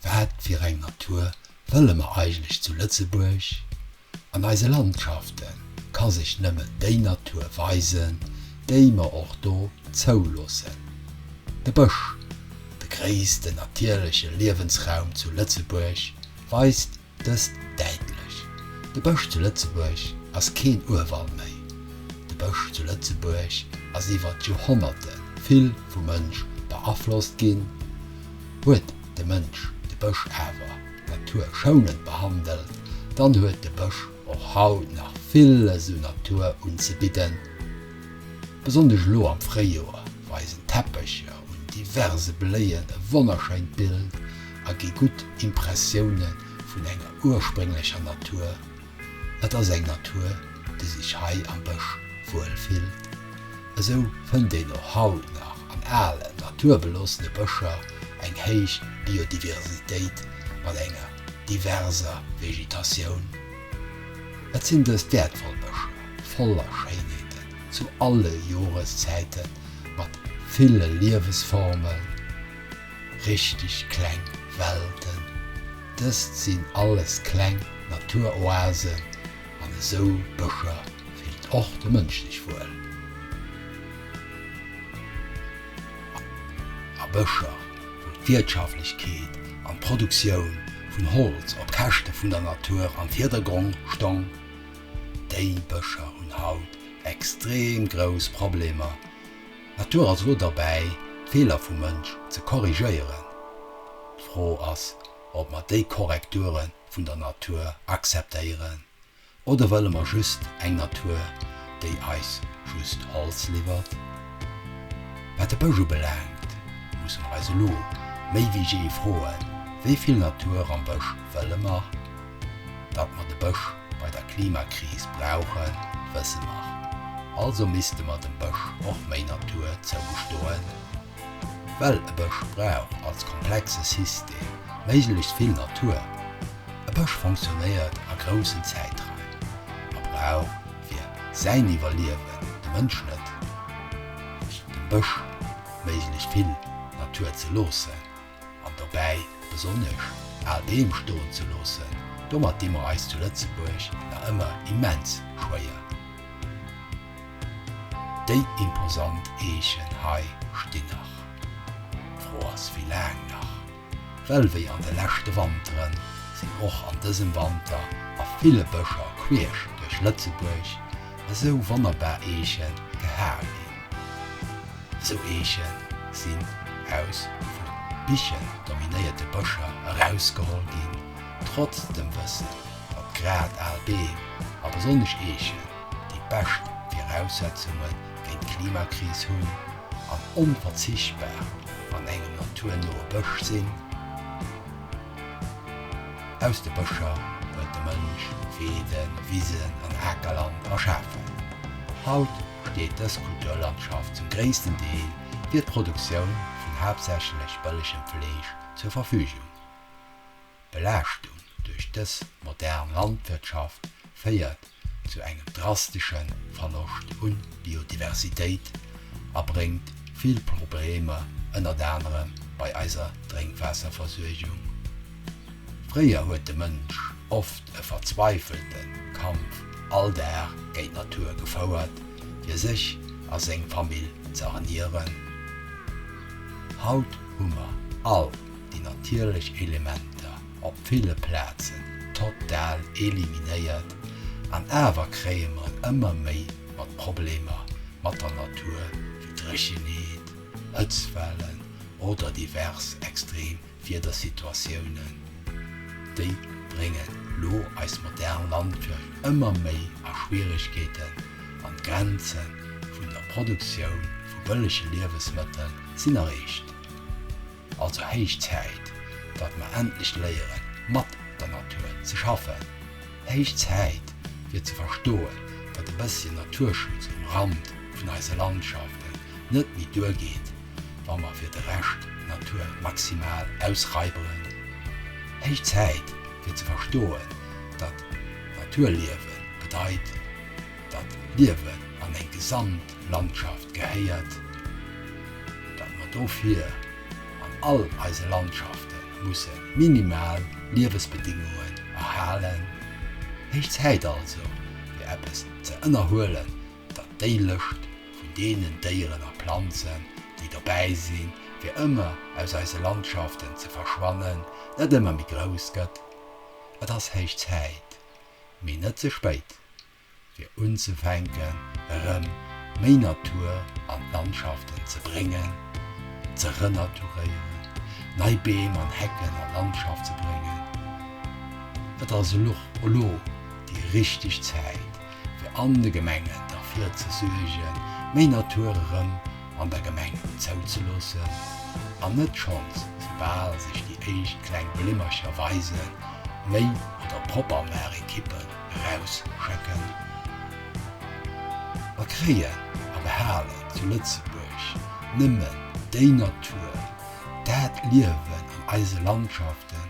Wat fir eng Natur wëlle mer eigentlech zu Lëtzebuerg? An eise Landschafte ka sech nëmmen déi Natur weisen, déi mer och do zouloossen. De Bësch, de gréissten natierleche Liewensraum zu Lëtzebuerg, weist Dëst däitlech. De Bësch zu Lëtzebuerg ass keen Urwald méi. De Bësch zu Lëtzebuerg ass iwwer d'Joerhonnerte vill vum Mënsch beaflosst ginn. Huet de Mënsch de Bësch awer naturschounend behandelt, dann huet de Bësch och haut nach villes un Natur unzebidden. Besonnesch elo am Fréijoer weisen d'Teppecher un diverse Bléien e wonnerschéint Bild a gi gutt Impressioune vun enger ursprénglecher Natur. Et ass eng Natur, déi sech hei am Bësch wuel fillt. Esou fënnt een och haut nach an alen, naturbeloossene Bëscher eng héich Biodiversitéit mat enger diverser Vegetatioun. Et sinn dës wäertvoll Bëscher voller Schéinheeten zu alle Joreszäite mat ville Liewesformen. Richteg kleng Welten. Dëst sinn alles kleng Naturoasen an esou Bëscher fillt och de Mënsch sech wuel. A Bëscher, wou d'Wiertschaflechkeet an d'Produktioun vun Holz op Käschte vun der Natur am Virdergrong stong, déi Bëscher hunn haut extrem grouss Problemer D'Natur ass elo derbäi, d'Feeler vum Mënsch ze korrigéieren. D'Fro ass, ob mer déi Korrekture vun der Natur akzeptéieren, oder wëlle mer just eng Natur, déi eis just Holz liwwert? Wat de Bësch ubelaangt, musse mer eis elo méi wéi jee froen, Wéi vill Natur am Bësch wëlle mer? Datt mer de Bësch bei der Klimakris brauchen, wësse mer. Also misste mer dem Bësch och méi Natur zougestoen, well e Bësch brauch als komplexe System méiglechst vill Natur. E Bësch fonctionnéiert a groussen Zäitraim a brauch fir säin Iwwerliewen, de Mënsch net, dem Bësch méiglechst vill Natur ze loossen. an dobäi besonnesch al Beem stoen ze loossen, domat di mer eis zu Lëtzebuerg nach ëmmer immens schwéier. Déi imposant Eechen hei stinn nach. D'Fro ass, wéi laang nach? Well wéi an de leschte Wanteren, sinn och an dësem Wanter a ville Bëscher queesch duerch Lëtzebuerg esou wonnerbar Eeche gehal ginn. Sou Eeche sinn aus vu Bichen dominéierte Bëscher erausgeholl ginn, trotz dem Wëssen, datt grad al Beem a besonnesch Eechen déi bescht Viraussetzunge géint d'Klimakris hunn an onverzichtbar an engem naturnoe Bësch sinn. Aus de Bëscher huet de Mënsch Weeden, Wisen an Akerland erschafen. Haut. besteet dës Kulturlandschaft zum gréissten Deel fir d'Produktioun vun haaptsächlech bëllegem Fleesch zur Verfügung. D'Belaaschtung duerch dës modern Landwirtschaft féiert zu engem drastesche Verloscht u Biodiversitéit a bréngt vill Problemer, ënnert anerem bei eiser Drénkwaasserversuergung. Fréier huet de Mënsch oft e verzweifelte Kampf all Dag géint d'Natur gefouert, fir sech a seng Famill ze ernieren. Haut hu mer all déi natierlech Elementer op ville Plazen total eliminéiert, an awer kréie mer et ëmmer méi mat Problemer mat der Natur, wéi Dréchenheet, Hëtztwellen oder divers extrem Wiedersituatiounen, déi bréngen elo eis modern Landwirtschaft ëmmer méi a Schwieregkeeten an d'Grenze vun der Produktioun vu bëllege Liewesmëttel sinn erreecht. Also héich Zäit, datt mer endlech léieren, mat der Natur ze schaffen. Héich Zäit, fir ze verstoen, datt e bësschen Naturschutz um Rand vun eise Landschaften net méi duergeet. wa mer fir de Rescht d'Natur maximal ausraiberen. Héich Zäit fir ze verstoen, datt Naturliewe bedeit, datt Liewen an eng gesamt Landschaft gehéiert, datt mer dofir an all eise Landschafte musse minimal Liewesbedingungen erhalen. Héich Zäit also fir eppes ze ënnerhuelen, datt déi Lëscht vun deenen Déieren a Planzen, déi dobäi sinn, fir ëmmer aus eise Landschaften ze verschwannen, net ëmmer méi grouss gëtt. Et ass héich Zäit, mee net ze spéit, fir unzefänken, erëm méi Natur an d'Landschaften ze bréngen, ze renaturéieren, nei Beem an Hecken an d'Landschaft ze bréngen. Et ass elo déi richteg Zäit. fir an de Gemengen derfir ze suergen, méi Natur erëm an der Gemeng zouzeloossen, an net schonns, soubal sech déi éischt kleng Blimmercher weisen, méi oder propper Maachekippen erausschëcken. Mer kréien a behalen zu Lëtzebuerg nëmmen déi Natur, dat Liewen an eise Landschaften,